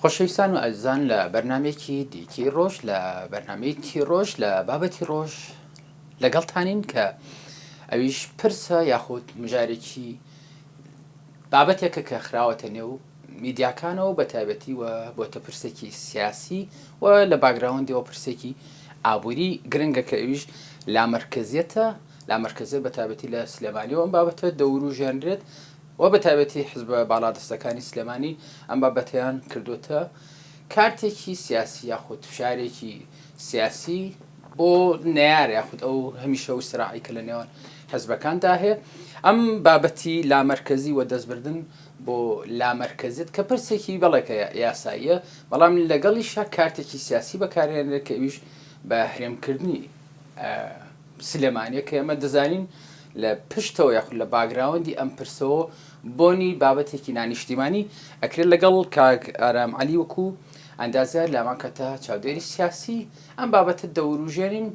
خۆشەویستان و ئازان لە بەرنمێکی دیکی ڕۆژ لە بەرنمەیەکی ڕۆژ لە بابەتی ڕۆژ لەگەڵتانین کە ئەویش پرسە یاخود مژارێکی بابەتێکە کە خراوەتە نێو میدیاکانەوە بەتایبەتی و بۆتە پرسێکی سیاسی و لە باگراوندیەوە پرسێکی ئابوری گرنگە کە ئەویش لامەرکەزیەتە لامەرکەزیەت بەتابەتی لە سلێمانی و ئەم بابەتە دەورو ژێنرێت و بەتابەتی حزبە باڵادەستەکانی سلێمانی ئەم بابەتیان کردوتە کارتێکی سیاسی یاخود فشارێکی سیاسی بۆ نەیار یاخود ئەو هەمیشە و سراعی کە لە نێوان حزبەکاندا هەیە ئەم بابەتی لامەرکزی و دەستبردن بۆ لامەرکەزیت کە پرسێکی بەڵێکە یاساییە، بەڵام لەگەڵیشا کارتێکی سیاسی بەکارهێنرێت کە ئەویش بە هەرێمکردنی سلێمانیە کە ئێمە دەزانین لە پشتەوە یاخود لە باگراوەندی ئەم پرسەوە بۆنی بابەتێکی نانیشتیمانی ئەکرێت لەگەڵ کاک ئارام عەلی وەکو ئەندازیار لامان کەتە چاودێری سیاسی ئەم بابەتە دەوروژێنین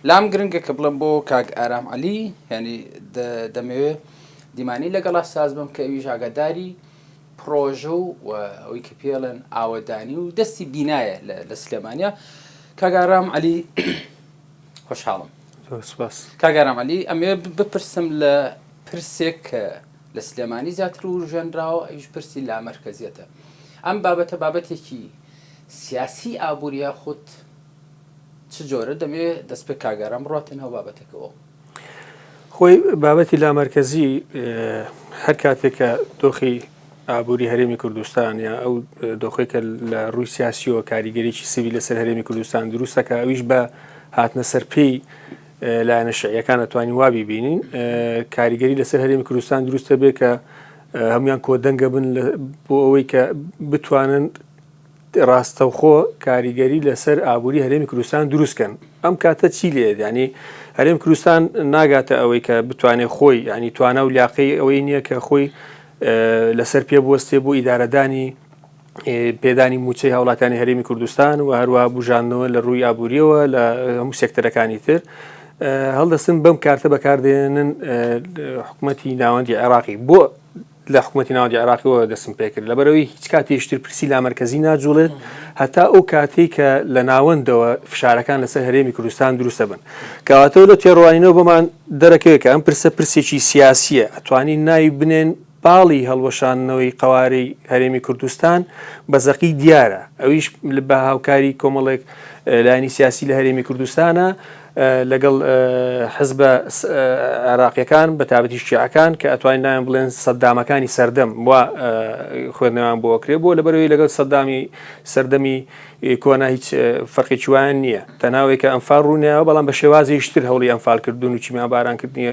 لام گرنگە کە بڵێم بۆ کاک ئارام عەلی یعنی دەمەوێ دیمانی لەگەڵا ساز بم کە ئەویش ئاگاداری پرۆژە و ئەوی کە پێڵێن ئاوەدانی و دەستی بینایە لە سلێمانیا کاگارام علی خۆشحاڵم کاگارام علی ئەمێ بپرسم لە پرسێک کە لە سلێمانی زیاتر و ژەنراوە ئەوش پرسی لا مرکزیەتە ئەم بابەتە بابەتێکی سیاسی ئابووری یاخود چ جۆرە دەبێ دەست پێ کاگاران بڕاتێ ناو بابەتەکەوە؟ خۆی بابەتی لامەرکەزی هەر کاتێک کە دۆخی ئابووری هەرێمی کوردستان یا ئەو دۆخی کە لە ڕووی سیاسیەوە کاریگەریی سوی لەسەر هەرێمی کوردستان دروستەکە ئەویش بە هاتنە سەر پێی لایەنە شعیەکان ئەتوانین وابی بینین کاریگەری لەسەر هەرێمی کوردستان دروستە بێ کە هەموان کۆدەنگە بن بۆ ئەوەی کە بتوانن ڕاستەوخۆ کاریگەری لەسەر ئابووری هەرێمی کوردستان دروست کەن ئەم کاتە چی لێ یانی هەرێم کوردستان ناگاتە ئەوەی کە بتوانێت خۆی ینی توانا و لاقی ئەوەی نییە کە خۆی لەسەر پێ بوەستێ بۆ ئیدارەدانی پێدانی موچەی هاوڵاتانی هەرێمی کوردستان و هەروە بژاندنەوە لە ڕووی ئابووریەوە لە هەموو سێکتەرەکانی تر هەڵدەستن بەم کارتە بەکاردێنن حکوومەتتی ناوەندی عێراقی بۆ لە حکومەتی ناوەندی عێراقیەوە دەستم پێکرد لەبەرەوەی هیچ کاتیشتر پرسی لامەرکەزی ناجوڵێت هەتا ئەو کاتێک کە لە ناوەندەوە فشارەکان لەسەر هەرێمی کوردستان دروستە بن کەواتەوە لە تێڕوانینەوە بۆمان دەرەکەوێت کە ئەم پرسە پرسێکی سیاسیە ئەتوانی ناوی بنێن باڵی هەڵوەشاندنەوەی قەوارەی هەرێمی کوردستان بە زەقی دیارە ئەویش بە هاوکاری کۆمەڵێک لانی سیاسی لە هەرێمی کوردستانە لەگەڵ حزبە عێراقیەکان بەتابەتی شیعەکان کە ئەتوانین ناوێن بڵێن سەددامەکانی سەردەم و خوێندنەوەیان بۆ کرێ بۆ لەبەرەوەی لەگەڵ سەددامی سەردەمی کۆنا هیچ فەرقی چوان نییە تەناوێک کە ئەمفال ڕوونیەوە بەڵام بە شێوازیشتر هەوڵی ئەمفالکردون و چیمان بارانکردنی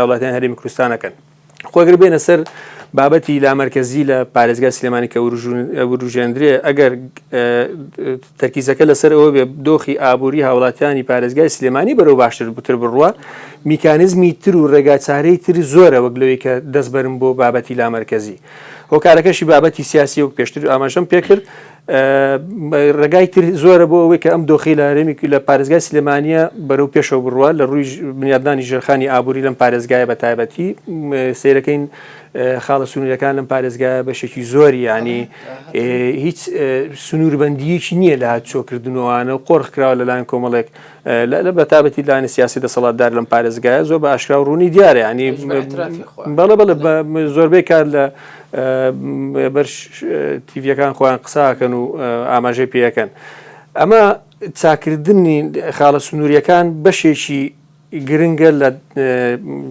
وڵاتیان هەرێمی کوردستانەکەن. خۆ گەر بێنە سەر بابەتی لامەرکەزی لە پارێزگای سلێمانی کە وروژێندرێ ئەگەر تەرکیزەکە لەسەر ئەوە بێ دۆخی ئابووری هاوڵاتیانی پارێزگای سلێمانی بەرەو باشتر بتر بڕوە میکانزمی تر و ڕێگاچارەی تر زۆرە وەک لەوەی کە دەستبەرم بۆ بابەتی لامەرکەزی هۆکارەکەشی بابەتی سیاسی وەک پێشتر ئاماژەم پێکرد ڕێگای تر زۆرە بۆ ئەوەی کە ئەم دۆخی لە هەرێمی لە پارێزگای سلێمانە بەرەو پێشەوە بڕوە لە ڕووی بنیادنانی ژێرخانی ئابووری لەم پارێزگایە بە تایبەتی سیرەکەین خاڵە سنوورەکان لەم پارێزگایە بەشێکی زۆری ینی هیچ سنووربندیەکی نییە لە هاچۆکردنەوەوانە و قۆرخکراوە لەلایەن کۆمەڵێک لە بەتابەتی لایەنی سیاسی دەسەڵاتدار لەم پارێزگایە زۆر بە ئاشکرا و ڕوونی دیارە ینی بەڵێ بەڵێ زۆربەی کار لە بەر تیڤەکان خۆیان قساکەن و ئاماژەی پێەکەن ئەمە چاکردنی خاڵە سنووریەکان بەشێکی گرنگە لە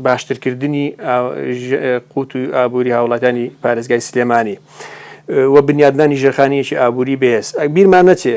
باشترکردنی قوت و ئابووری هاوڵاتانی پارێزگای سلێمانی و بنیادنانی ژێرخانیەکی ئابووری بەهێز ئەک بیرمان نەچێ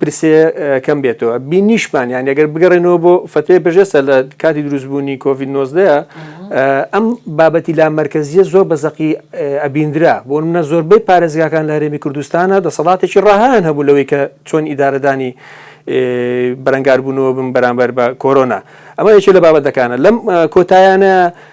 پرسێ کەم بێتەوە بینیشمان یان ئەگەر بگەڕێنەوە بۆ فتوێ بژێسە لە کاتی دروستبوونی کۆڤید 19 ئەم بابەتی لا مرکزیە زۆر بە زەقی ئەبیندرا بۆ منە زۆربەی پارێزگاکان لە هەرێمی کوردستانە دەسەڵاتێکی ڕاهیان هەبوو لەوەی کە چۆن ئیدارەدانی بەرەنگاربوونەوە بم بەرامبەر بە کۆرۆنا ئەمە یەکێ لە بابەتەکانە لەم کۆتایانە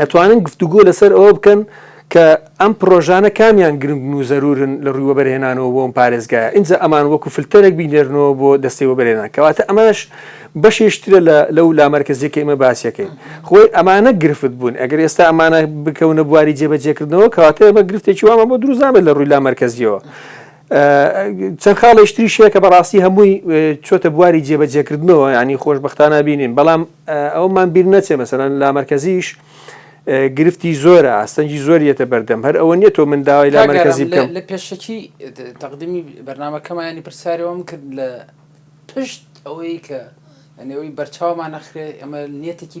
ئەتوانن گفتوگۆ لەسەر ئەوە بکەن کە ئەم پرۆژانە کامیان گرنگن و زەرورن لە ڕووی وەبەرهێنانەوە بۆ ئەم پارێزگایە ئینجا ئەمان وەکو فلتەرێک بینێرنەوە بۆ دەستەی وەبەرهێنان کەواتە ئەمەش بەشێکی ترە لە لەو لامەرکەزیە کە ئێمە باسیەکەین خۆی ئەمانە گرفت بوون ئەگەر ئێستا ئەمانە بکەونە بواری جێبەجێکردنەوە کەواتە ئێمە گرفتێکی وامان بۆ دروست نابێت لە ڕووی لامەرکەزیەوە چەند خاڵێکی تریش هەیە کە بەڕاستی هەمووی چۆتە بواری جێبەجێکردنەوە یعنی خۆشببختانە بینین بەڵام ئەومان بیر نەچێ مەسەرەن لا مرکزیش گرفتی زۆرە ئاستەنگی زۆریەتە بەردەم هەر ئەوە نیە تۆ من داوای لا مرکزی بکەم لە پێشەکی تەقدمی بەرنمەکەمانی پرسیارەوەم کرد لە پشت ئەوەی کە ئەنەوەی بەرچاومان نەخرێ ئەمە نیەتێکی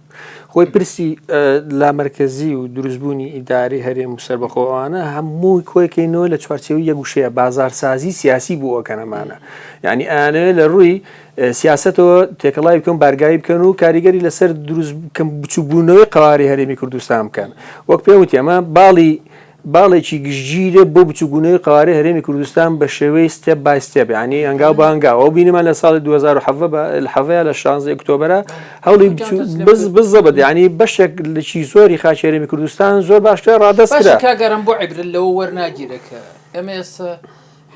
خۆی پرسی لامەرکەزی و دروستبوونی ئیداری هەرێم و سەربەخۆوانە هەمووی کۆیکەینەوە لە چوارچێوی یەگوشەیە بازارسازی سیاسی بوو ئەوکەنەمانە ینی ئەیانەوێت لە ڕووی سیاستەوە تێکەڵای بکەن بارگاوی بکەن و کاریگەری لەسەر دروست بچوبوونەوەی قواری هەرێمی کوردستان بکەن وەک پێوتی ئەمە باڵی باڵێکی گشتگیرە بۆ بچوکبوونەوەی قەوارەی هەرێمی کوردستان بە شێوەی ستێپ بای ستێپ یانی هەنگاو بە هەنگاو ئەو بینیمان لە ساڵی دوو هەزار و حەڤدە بە حەڤەیە لە شانزەی ئۆکتۆبەرە هەوڵی بچوو بز بز زەبت یانی بەشێک لەچی زۆری خاکی هەرێمی کوردستان زۆر باش کرا ڕادەست کرا. باشە کاک ئارام بۆ عیبرەت لەوە وەرناگیرێ کە ئێمە ئێستا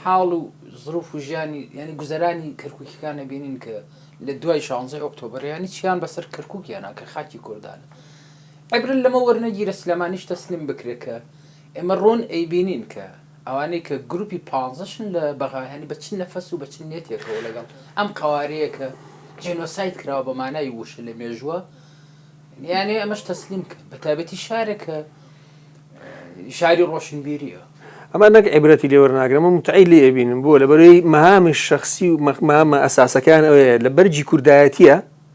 حاڵ و زروف و ژیانی یانی گوزەرانی کەرکوکییەکان ئەبینین کە لە دوای شانزەی ئۆکتۆبەر یانی چیان بەسەر کەرکوک هێنا کە خاکی کوردانە؟ عیبرت لەمە وەرنەگیرە سلێمانیش تەسلیم بکرێ کە ئێمە ڕوون ئەیبینین کە ئەوانەی کە گروپی پانزەشن لە بەغایانی بە چ نەفەس و بە چ نیەتێکەوە لەگەڵ ئەم قەوارەیە کە جینۆساید کراوە بە مانای ووشە لە مێژووە یانێ ئەمەش تەسلیم کە بە تابەتی شارێک کە شاری ڕۆشنبیریە ئەمە نەک عیبرەتی لێوەرناگرم و متعی لێ ئەبینم بۆ لە بەرەی مەهامی شخصی و مەمە ئەساسەکان ئەوەیە لە بەرجی کوردایەتیە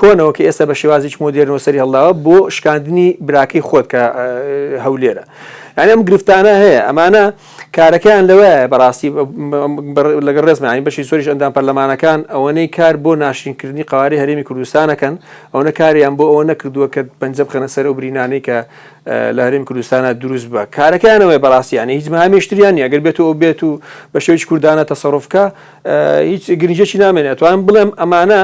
کۆنەوە کە ئێستا بە شێوازێکی مۆدێرنەوە سەری هەڵداوە بۆ شکاندنی براکەی خۆت کە هەولێرە یعنی ئەم گرفتانە هەیە ئەمانە کارەکەیان لەوەیە بەڕاستی لەگە ڕێزمانی بەشی سۆریش ئەندام پەرلەمانەکان ئەوەنەی کار بۆ ناشرینکردنی قواری هەرێمی کوردستانەکەن ئەوەنە کاریان بۆ ئەوە نەکردووە کە پەنجە بخەنە سەر و برینانەی کە لە هەرێمی کوردستانە دروست بە کارەکانەوەی بەڕاستیانە هیچ مامێشتریان نیە گەر بێت و بێت و بە شێوی کوردانە تەسەڕفکە هیچ گرنجێکی نامێنێت توان بڵێم ئەمانە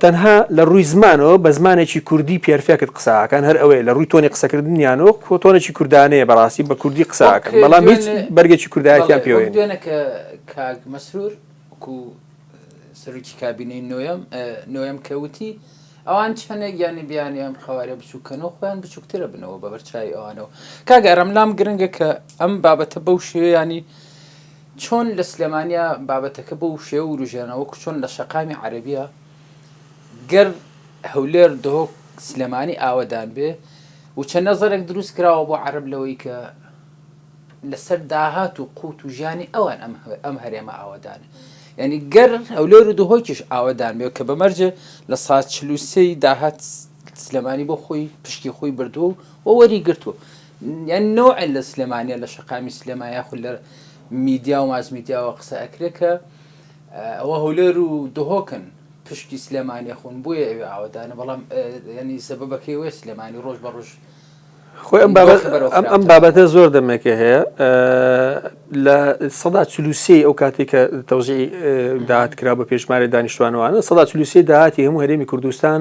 تەنها لە ڕووی زمانەوە بە زمانێکی کوردی پێرفێکت قسە ئاکەن هەر ئەوەیە لە ڕووی تۆنی قسەکردنیانەوە کۆ تۆنێکی کوردانەیە بەڕاستی بە کوردی قسە ئاکەن وەک بەڵام هیچ دوێنێ بەرگێکی کوردایەتیان بەڵێ وەک پێوەیە نییە دوێنێ کە کاک مەسرور وەکو سەرۆکی کابینەی نۆیەم ئە، نۆیەم کە وتی ئەوان چەندێک یانی بیانوی ئەم قەوارە بچووکەنەوە خۆیان بچووکترە بنەوە بە بەرچاوی ئەوانەوە کاگەرم لام گرنگە کە ئەم بابەتە بەو شێوەیانی چۆن لە سلێمانیە بابەتەکە بەو شێوە وروژێنە وەکو چۆن لە شەقامی عەرەبیە گەر هەولێر دهۆک سلێمانی ئاوەدان بێ و چەند نەزەرێک دروست کراوە بۆ عەرەب لەوەی کە لەسەر داهات و قوت و ژیانی ئەوان ئەم هەرێمە ئاوەدانە یعنی گەر هەولێر و دهۆکیش ئاوەدان بێ کە بەمەرجێ لە سا چلوسەی داهات سلێمانی بۆ خۆی پشکی خۆی بردووە و وەری گرتووە یان نوع لە سلێمانیە لە شەقامی سلێمانە یاخود لە میدیا و ماسمیدیاوە قسە ئەکرێ کە ئەوە هەولێر و دهۆکن پشکی سلێمانیە خون بۆیە ئەوێ ئاوادانە بەڵام ینی سەبەکەی وێ سلێمانی ڕۆژ بە ڕژ خۆی ئەم بابەتە زۆر دەمێکە هەیە لە سەدا چلوسی ئەو کاتی کە تەوزی داات کرا بە پێشمارە دانیشتوانوانە سەدا چلوسی داهاتی هەموو هەرێمی کوردستان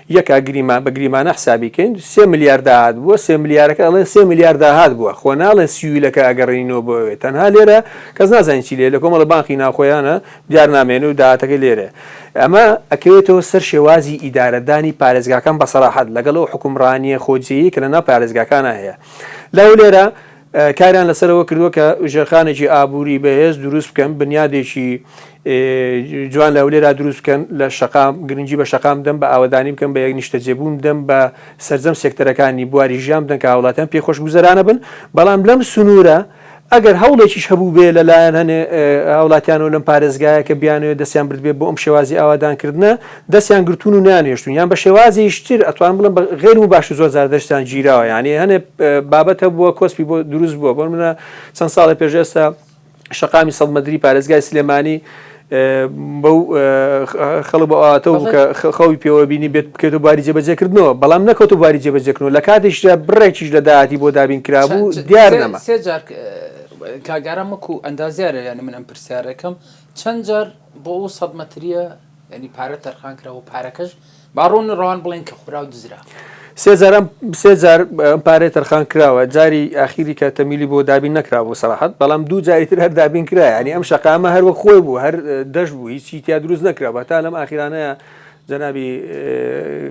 یەکە گریمان بە گریمانە حسابی کەین سێ ملیار داهات بووە سێ ملیارەکە ئەڵێن سێ ملیار داهات بووە خۆ ناڵێن سیویلەکە ئەگەڕێنینەوە بۆ ئەوێ تەنها لێرە کەس نازانین چی لێ لە کۆمەڵە بانقی ناوخۆیانە دیار نامێنێ و داهاتەکەی لێرەیە ئەمە ئەکەوێتەوە سەر شێوازی ئیدارەدانی پارێزگاکان بە سەراحەت لەگەڵ ئەو حوکمڕانییە خۆجێیەی کە لەناو پارێزگاکانا هەیە لەو لێرە کاریان لەسەر ئەوە کردووە کە ژێرخانێکی ئابووری بەهێز دروست بکەن بنیادێکی جوان لە هەولێرا دروست بکەن لە شقام گرنگی بە شقام دەم بە ئاوادانی بکەم بە یەک نیشتەجێبوون دەم بە سرجەم سێکتەرەکانی بواری ژیان بدەن کە هاوڵاتیان پێ خۆش گوزەرانە بن بەڵام لەم سنوورە ئەگەر هەوڵێکیش هەبوو بێ لەلایەن هەنێ هاوڵاتیانەوە لەم پارێزگایە کە بیانەوە دەستیان بردبێ بۆ ئەم شێوازی ئاوادانکردە دەستیان گرتوون و نانێشتوون یان بە شێوازێیش تر ئەتوانم بڵێم بە غەیر موباشر زۆر جار دەستیان گیراوە یانی هەنێ بابەت هەبووە کۆسپی بۆ دروست بووە بۆ منە چەند ساڵێ پێش ئێستا شەقامی سەد مەدری پارێزگای سلێمانی بەو خەڵ بۆ ئاتە و کە خەوی پێوە بینی بێت بکەێتە باری جێبەجێکردنەوە بەڵام نەکەوت و باری جێبەجێکردنەوە لە کاتیشدا بڕێکیش لە داهاتی بۆ دابین کرابوو دیار نەما سێجار کاگارە مەکو ئەندازیارە یانی من ئەم پرسیارەکەم چەند جار بۆ ئەو سەد مەتریە یانی پارە تەرخان کرا و پارەکەش با ڕوون ڕەوان بڵێن کە خورا و دزرا. سێ جار ئەم سێ جار ئەم پارەیە تەرخان کراوە جاری ئاخیری کە تەمیلی بۆ دابین نەکرابوو سەراحەت بەڵام دوو جاری تر هەر دابین کرا یعنی ئەم شەقامە هەر وەک خۆی بوو هەر دەشت بوو هیچی تیا دروست نەکرا بە تا لەم ئاخیرانەیە جەنابی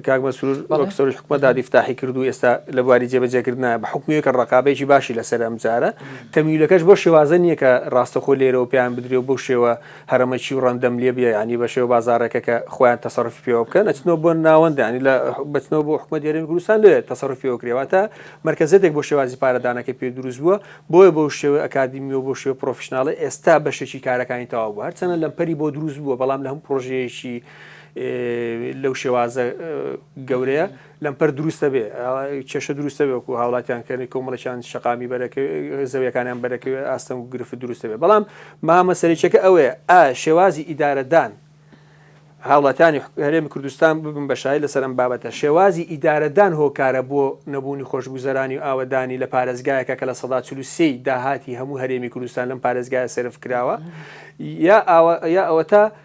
کاک مەسرور وەک سەرۆکی حکومەت دادی فتاحی کرد و ئێستا لە بواری جێبەجێکردنە بە حکومی کە ڕقابێکی باشی لەسەر ئەم جارە تەمیلەکەش بۆ شێوازە نییە کە ڕاستەخۆ لێرەوە پێیان بدرێ و بەو شێوە هەرەمەکی و ڕەندەم لێ بێ ینی بە شێو بازارەکە کە خۆیان تەسەرفی پێوە بکەن ئەچنەوە بۆ ناوەندانی لە بچنەوە بۆ حکومە دێرەی کوردستان لێ تەسەرفی پێوە کرێواتە مرکزێتێک بۆ شێوازی پارەدانەکە پێ دروست بووە بۆیە بۆ شێوە ئەکادمی و بۆ شێو پرۆفشنناڵی ئێستا بەشێکی کارەکانی تەواو بوو هەرچەنە لەمپەری بۆ دروست بووە بەڵام لە هەم پرۆژەیەکی لەو شێوازە گەورەیە لەمپەر دروستە بێ کێشە دروستە بێ وەکو هاوڵاتیان کردنی کۆمەڵەکان شقامی بەرەکە زەویەکانیان بەرەکە ئاستەنگ و گرفت دروستە بێ بەڵام مامە سەرچەکە ئەوێ ئا شێوازی ئیدارەدان هاوڵاتانی هەرێمی کوردستان ببن بەشای لەسەر ئەم بابەتە شێوازی ئیدارەدان هۆکارە بۆ نەبوونی خۆشگوزەرانی و ئاوەدانی لە پارێزگایەکە کە لە سەدا چلوسی داهاتی هەموو هەرێمی کوردستان لەم پارێزگایە سرف کراوە یا ئەوە تا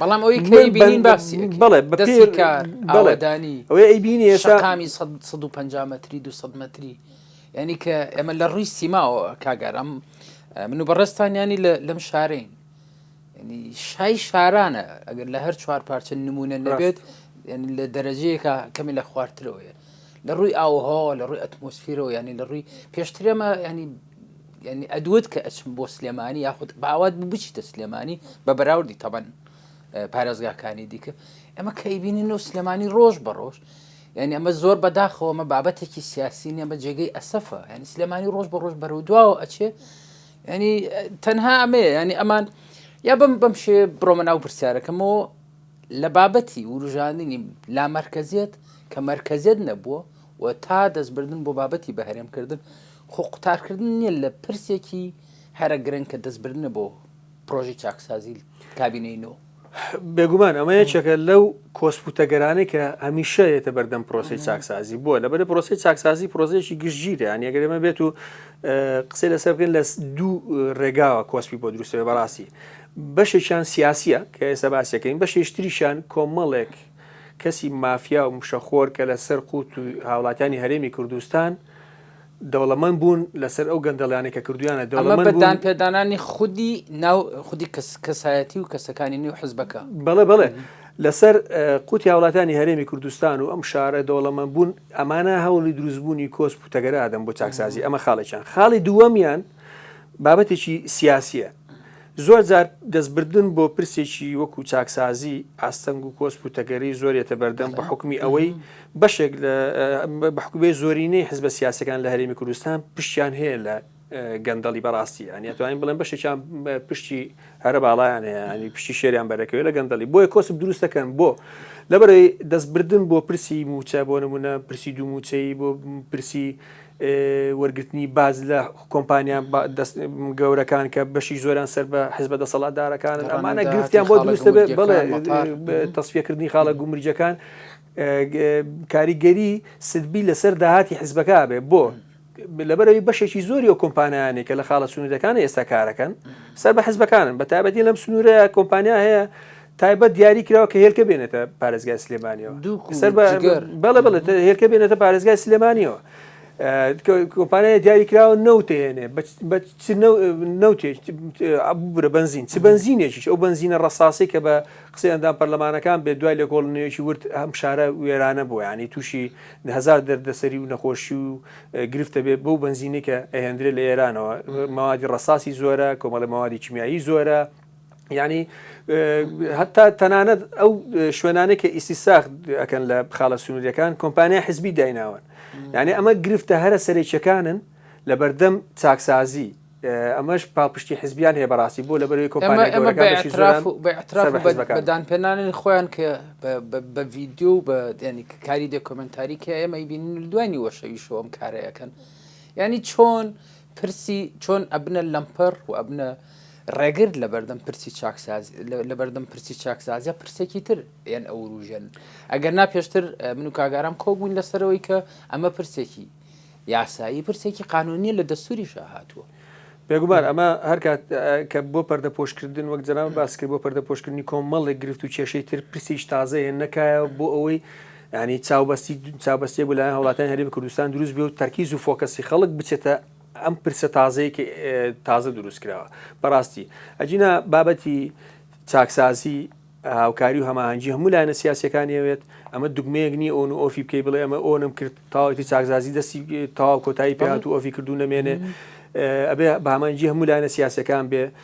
بەڵام ئەوەی کەی بینین باسی بڵێ بەدەسی کار ئەوەدانی ئەوەی ئەی بینی شەقامی 150 متری 200 متری ینی کە ئێمە لە ڕووی سیماوە کاگەرم من و بەڕێستان ینی لەم شارین شای شارانە ئەگەر لە هەر چوار پارچە نمونە نەبێت لە دەرەجەیەکە کەمی لە خوارترەوەیە لە ڕووی ئاوها لە ڕووی ئەتمۆسفیرەوە ینی لە ڕووی پێشترێمە ینی یانی ئەدوت کە ئەچم بۆ سلێمانی یاخود باوات بوو بچیتە سلێمانی بە بەراوردی تەبەن پارێزگاکانی دیکە ئەمە کە ئەیبینین و سلێمانی ڕۆژ بە ڕۆژ یعنی ئەمە زۆر بەداخەوەمە بابەتێکی سیاسی نیە بە جێگەی ئەسەفە ینی سلێمانی ڕۆژ بە ڕۆژ بەرەو دواوە ئەچێ ینی تەنها ئەمێ ینی ئەمان یا بم بەم شێ بڕۆمە ناو پرسیارەکەمەوە لە بابەتی وروژاندنی لا مرکزیت کە مرکزیت نەبووە و تا دەستبردن بۆ بابەتی بەهرێمکردن خۆ قوتارکردن نیە لە پرسێکی هەرە گرنگ کە دەستبردنە بۆ پرۆژەی چاکسازی کابینەی نۆ. بێگومان ئەمە یەکێکە لەو کۆسپوتەگەرانەی کە هەمیشە یێتە بەردەم پرۆسی چاکسازی بووە لەبەر پرۆسی چاکسازی پرۆزێکی گشتگیرە یان یەگەرێمە بێت و قسەی لەسەر بکەین لە دوو ڕێگاوە کۆسپی بۆ دروستەوە بەڕاستی بەشێکیان سیاسیە کە ئێستا باسیەکەین بەشێشتریشان کۆمەڵێک کەسی مافیا و مشەخۆر کە لەسەر قوت و هاوڵاتیانی هەرێمی کوردستان دەوڵەمەند بوون لەسەر ئەو گەندەڵیانەی کە کردوویانە، ئەمە بە دانپێدانانی خودی ناو خودی کەسایەتی و کەسەکانی نێو حزبەکە. بەڵێ بەڵێ لەسەر قوتی هاوڵاتیانی هەرێمی کوردستان و ئەم شارە دەوڵەمەند بوون، ئەمانە هەوڵی دروستبوونی کۆسپ و تەگەرە ئەدەن بۆ چاکسازی، ئەمە خاڵێکیان، خاڵی دووەمیان بابەتێکی سیاسییە، زۆر جار دەستبردن بۆ پرسێکی وەکو چاکسازی ئاستەنگ و کۆسپ و تەگەری زۆر یەتە بەردەم بە حکومی ئەوەی بەشێک لە بەحکوبێ زۆرینەی حزبە سیاسەکان لە هەرێمی کوردستان پشتیان هەیە لە گەندەڵی بەڕاستی ئەنی توانین بڵێن بەشێکیان پشتی هەرە باڵایان هەیە ئەنی پشتی شێریان بەرەکەوێت لە گەندەڵی بۆیە کۆسب دروستەکەن بۆ لەبەرەی دەستبردن بۆ پرسی موچە بۆ نمونە پرسی دوو موچەی بۆ پرسی وەرگرتنی باج لە کۆمپانیا گەورەکان کە بەشی زۆران سەر بە حزبە دەسەڵاتدارەکانن ئەمانە گرفتیان بۆ دروستە بێت بەڵێ تەسفیەکردنی خاڵە گومرجەکان کاریگەری سلبی لەسەر داهاتی حزبەکە بێ بۆ لەبەرەوەی بەشێکی زۆری و کۆمپانیانێک کە لە خاڵە سنوورەکان ئێستا کارەکەن سەر بە حزبەکانن بە تابەتی لەم سنوورەیە کۆمپانیا هەیە تایبەت دیاری کراوە کە هێلکە بێنێتە پارێزگای سلێمانیەوە سەر بەڵێ بڵێت هێلکە بێنێتە پارێزگای سلێمانیەوە کۆمپانیا دیاری کراوە نەوتێنێ نەوتێکبرە بنزین چ بنزینێکیش ئەو بنزینە ڕساسی کە بە قسە ئەندام پەرلەمانەکان بێ دوای لە کۆڵنیەکی ورد هەم شارە وێرانە بوو ینی تووشی هزار دەردەسەری و نەخۆشی و گرفتە بێ بەو بنزینێکە ئەهێندرێت لە ئێرانەوە ماوادی ڕساسی زۆرە کۆمەڵی ماوادی کیمیایی زۆرە یعنی هەتا تەنانەت ئەو شوێنانێک کە ئیسی ساخت ئەەکەن لە خاڵە سنووریەکان کۆمپانیا حزبی دایناون یعنی ئەمە گرفتە هەرە سەرێکیەکانن لە بەردەم چاکسازی ئەمەش پاڵپشتی حزبیان هەیە بەڕاستی بۆ لە بەروی کۆمپانیدان پێنانن خۆیان کە بە ڤیددیو و بە دێنی کاری دەکۆمنتاری کە ئێمە بینین دوانی وەشەوی شۆم کارەکەن ینی چۆن پرسی چۆن ئەبنە لەمپەر و ئەبنە ڕێگرت لەبەردەم پرسی چاکسازی لەبەردەم پرسی چاکسازیە پرسێکی تر یان ئەوروژێن ئەگەر نا پێشتر من و کاگارام کۆبوون لەسەرەوەی کە ئەمە پرسێکی یاسایی پرسێکی قانونیە لە دەستوری شاهاتوە بێگومان ئەمە هەرکات کە بۆ پەردە پۆشکردن وەک جەران باسکرد بۆ پەردە پۆشکردنی کۆمەڵێک گرفت و کێشەی تر پرسیش تازەیە نەکایە بۆ ئەوەی ینی چاوبەستی چاوبەستی بۆ لایەن هەوڵاتیان هەرێمی کوردستان دروست بێ و تەرکیز و فۆکەسی خەڵک بچێتە ئەم پرسە تازەیە کە تازە دروست کراوە بەڕاستی ئەجینا بابەتی چاکسازی هاوکاری و هەماهەنگی هەموو لایەنە سیاسەکانی ئەوێت ئەمە دگمەیەک نیە ئۆن و ئۆفی بکەی بڵێ ئەمە ئۆنم کرد تاوەتی چاکزازی دەستی تاو کۆتایی پێات و ئۆفی کردو نەمێنێ ئەبێ بامانجی هەموو لایەنە سیاسەکان بێ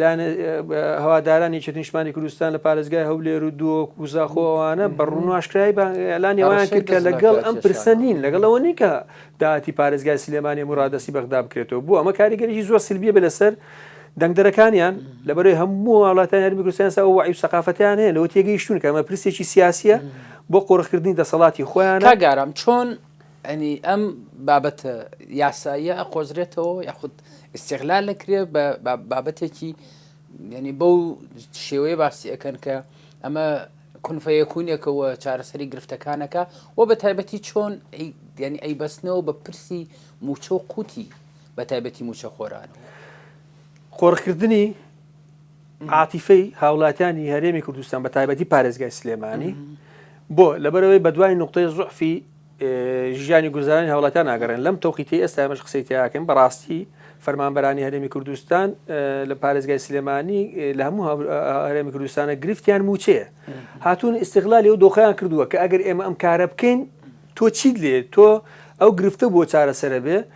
لایەنە هەوادارانی یەکێتی نیشتمانی کوردستان لە پارێزگای هەولێر و دووەک و زاخۆ ئەوانە بە ڕووناشکرای ئەلانی ئەویان کرد کە لەگەڵ ئەم پرسە نین لەگەڵ ئەوە نین کە داهاتی پارێزگای سلێمانی مرادەسی بەغدا بکرێتەوە بۆ ئەمە کاریگەریی زۆر سلبیە بێ لەسەر دەنگدەرەکانیان لەبەرەی هەموو وڵاتان هەرمی کوردستان سا وعی و سەقافتیان هەیە لەوە تێگەیشتون کەمە پرسێکی سیاسیە بۆ قۆرخکردنی دەسەڵاتی خۆیان گەرم چۆن یانی ئەم بابەتە یاساییە ئەقۆزرێتەوە یاخود ئیسیغلال لەکرێ بە بابەتێکی یعنی بەو شێوەیە باسی ئەەکەن کە ئەمە کونفەیەکوونێکەوە چارەسەری گرفتەکانەکە و بە تایبەتی چۆن یعنی ئەی بەستنەوە بە پرسی موچە و قوتی بە تایبەتی موچە خۆران قۆڕکردنی عاتیفەی هاوڵاتیانی هەرێمی کوردستان بە تایبەتی پارێزگای سلێمانی بۆ لەبەرەوەی بەدوای نقطەی زعفی ژیانی گوزارانی هاوڵاتیان ناگەڕێن لەم تۆقیتی ئێستا بەش قسەی تیاکەن بەڕاستی فەرمانبەرانی هەرێمی کوردستان لە پارێزگای سلێمانی لە هەموو هەرێمی کوردستانە گرفتیان موچەیە هاتون ئیسیغلالی و دۆخیان کردووە کە ئەگەر ئێمە ئەم کارە بکەین تۆ چیت لێ تۆ ئەو گرفتە بۆ چارەسەرە بێ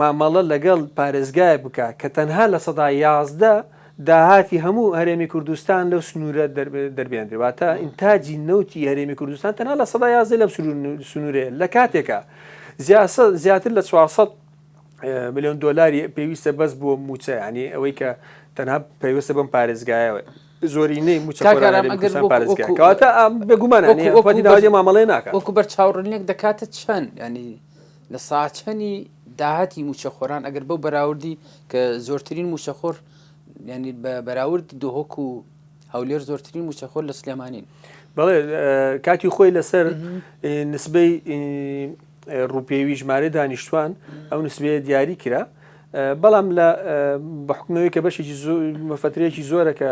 مامەڵە لەگەڵ پارێزگایەک بکا کە تەنها لە سەدا یازدە داهاتی هەموو هەرێمی کوردستان لەو سنوورە دەربێنرێ واتە ئینتاجی نەوتی هەرێمی کوردستان تەنها لە سەدا یازدە لەم سنوورەیە لە کاتێکە زیاتر لە 400 ملیۆن دۆلاری پێویستە بەس بۆ موچە ینی ئەوەی کە تەنها پێویستە بەم پارێزگایەوە زۆرینەی موچەکەواتە بێگومان مامەڵێ ناکە وەکو بەر چاوڕنیێک دەکاتە چەند ینی لە ساچنی داهاتی مووچەخۆران ئەگەر بەو بەراوردی کە زۆرترین مووچەخۆر ینی بە بەراورد دهۆک و هەولێر زۆرترین مووچەخۆر لە سلێمانین بەڵێ کاتی خۆی لەسەر نسبەی ڕوپێوی ژمارە دانیشتوان ئەو نسبەیە دیاری کرا بەڵام لە بەحکمەوەی کە بەشێکی مەفترێکی زۆرە کە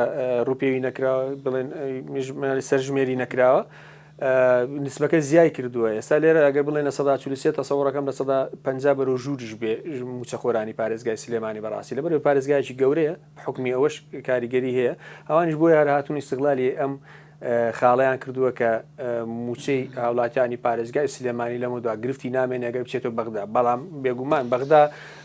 ڕوپێوی نەکرا بڵێن سەرژمێری نەکراوە نسبەکە زیای کردووە ئێستا لێرە ئەگەر بڵێن لە سەدا چل و سێ تەسەوڕەکەم لە سەدا پەنجا بەرەو ژووریش بێ موچەخۆرانی پارێزگای سلێمانی بەڕاستی لە بەرەو پارێزگایکی گەورەیە حکمی ئەوەش کاریگەری هەیە ئەوانیش بۆی هەر هاتون ئیستغلالی ئەم خاڵیان کردووە کە موچەی هاوڵاتیانی پارێزگای سلێمانی لەمەدا گرفتی نامێنێگە بچێتەوە بەغدا بەڵام بێگومان بەغدا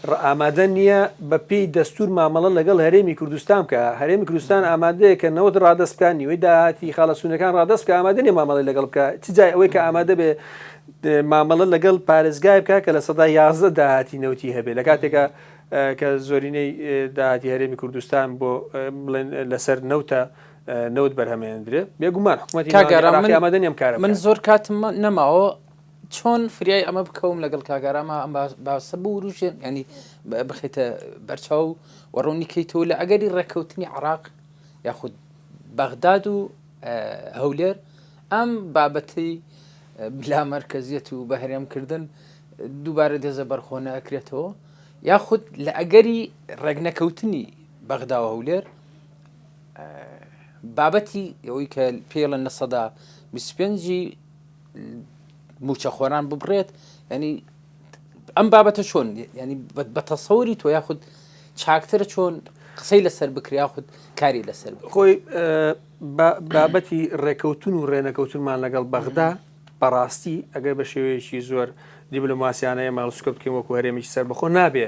ڕ ئامادە نییە بە پێی دەستوور مامەڵە لەگەڵ هەرێمی کوردستان بکا، هەرێمی کوردستان ئامادەیە کە نەوت ڕادەست بکا، نیوەی داهاتی خاڵە سوونەکان ڕادەست بکا، ئامادە نییە مامەڵەی لەگەڵ بکا، چ جای ئەوەی کە ئامادە بێ مامەڵە لەگەڵ پارێزگایەک بکا کە لە سەدا یازدە داهاتی نەوتی هەبێ، لە کاتێکا کە زۆرینەی داهاتی هەرێمی کوردستان بۆ بڵێن لە سەر نەوتە، نەوت بەرهەمێنندرێ، بێ گومان حکوومەتی ناوەندی عێراقی ئامادە نییە ئەم کارە بکا. چۆن فریای ئەمە بکەوم لەگەڵ کاک ئارام ئەم باسە بوروژێن ینی بخیتە بەرچاو و ڕوونی کەیتەوە لە ئەگەری ڕێککەوتنی عراق یاخود بەغداد و هەولێر ئەم بابەتی بلا مرکزیت و بەهرێم کردن دووبارە دێزە بەرخۆنە ئەکرێتەوە یاخود لە ئەگەری ڕێگنەکەوتنی بەغدا و هەولێر بابەتی ئەوەی کە پێڵە نە سەدا 25 موچەخۆران ببڕێت ینی ئەم بابەتە چۆن ینی بە تەسەوری تۆ یاخود چاکترە چۆن قسەی لەسەر بکریا خود کاری لەسەر خۆی بابەتی ڕێکەوتون و ڕێنەکەوتنمان لەگەڵ بەغدا بەڕاستی ئەگەر بە شێوەیەکی زۆر دیبلوماسیانەیە ماڵسکە بکەین وەکو هەرێمیش سەر بەخۆ نابێ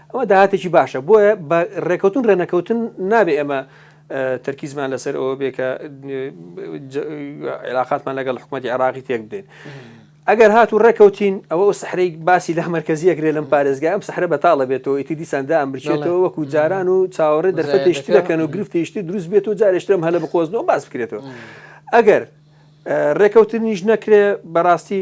ئەمە داهاتێکی باشە، بۆیە بە رێکەوتن رێ نەکەوتن نابێ ئێمە تەرکیزمان لەسەر ئەوە بێ کە عێلاقاتمان لەگەڵ حکوومەتی عێراقی تێک بدەین. ئەگەر هات و ڕێکەوتین ئەوە ئەو سەحرەی باسی لە مەرکزیەکرێ لەم پارێزگا ئەم سەحرە بەتاڵە بێتەوە ئیتی دیساندا ئەم بچێتەوە وەکو جاران و چاوەڕێ دەرفەتێشتی دەکەن و گرفتێشتی دروست بێت و جارێشتم هەلە بقۆزنەوە باس بکرێتەوە ئەگەر ڕێکەوتنیش نەکرێ بەڕاستی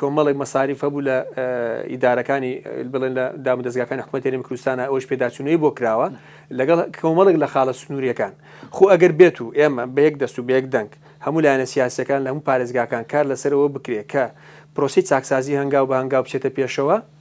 کۆمەڵێک مەساریف هەبوو لە ئیدارەکانی بڵێن لە دامودەزگاکانی حکومەت هەرێمی کوردستانە ئەوەش پێداچوونەوەی بۆ کراوە لەگەڵ کۆمەڵێک لە خاڵە سنووریەکان خۆ ئەگەر بێت و ئێمە بە یەک دەست و بە یەک دەنگ هەموو لایەنە سیاسەکان لە هەموو پارێزگاکان کار لەسەرەوە بکرێت کە پرۆسی چاکسازی هەنگاو بە هەنگاو بچێتە پێشەوە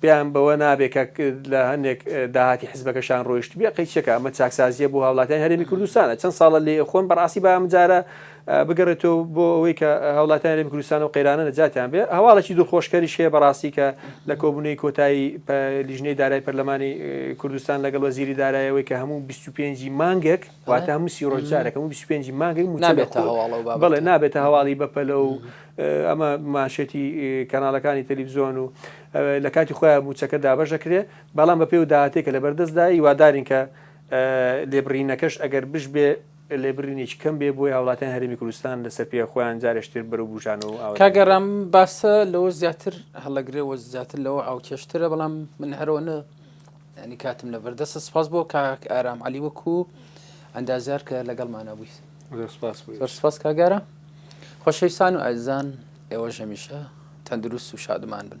پێیان بەوە نابێ کە لە هەندێک داهاتی حزبەکەشان ڕۆیشتبێ قەی چێکە ئەمە چاکسازیە بۆ هاوڵاتیان هەرێمی کوردستانە چەند ساڵە لێ خۆن بەڕاستی با ئەمجارە بگەڕێتەوە بۆ ئەوەی کە هاوڵاتیان هەرێمی کوردستان و قەیرانە نەجاتیان بێ هەواڵێکی دڵخۆشکەریش هەیە بەڕاستی کە لە کۆبوونەی کۆتایی لیژنەی دارای پەرلەمانی کوردستان لەگەڵ وەزیری دارایەوەی کە هەموو 25 مانگێک واتە هەموو سی ڕۆژ جارێک هەموو 25 مانگەی موچە لێ نابێتە هەواڵ و بابەتە. بەڵێ نابێتە هەواڵی بەپەلە و ئە، ئەمە مانشێتی کەناڵەکانی تەلیفزیۆن و ئە، لە کاتی خۆیان موچەکە دابەش دەکرێت، بەڵام بەپێی ئەو داهاتەی کە لەبەردەست دایە هیوادارین کە ئە، لێبڕینەکەش ئەگەر بشبێ لێبرینێکی کەم بێ بۆی هاوڵاتیانی هەرێمی کوردستان لە سەر پێیە خۆیان جارێش تر بەرەو بوژانەوە و ئاوەدانی کاک ئارام باسە لەوە زیاتر هەڵەگرێ و زیاتر لەوە ئاوکێشترە بەڵام من هەرەوە نە یانی کاتم لەبەر دەستە سپاس بۆ کاک ئارام علی وەکو ئەندازار کە لەگەڵمانە بوویت سپاس کاگارە خۆشەویستان و ئازان ئێوە ژەمیشە تەندروست و شادمان بن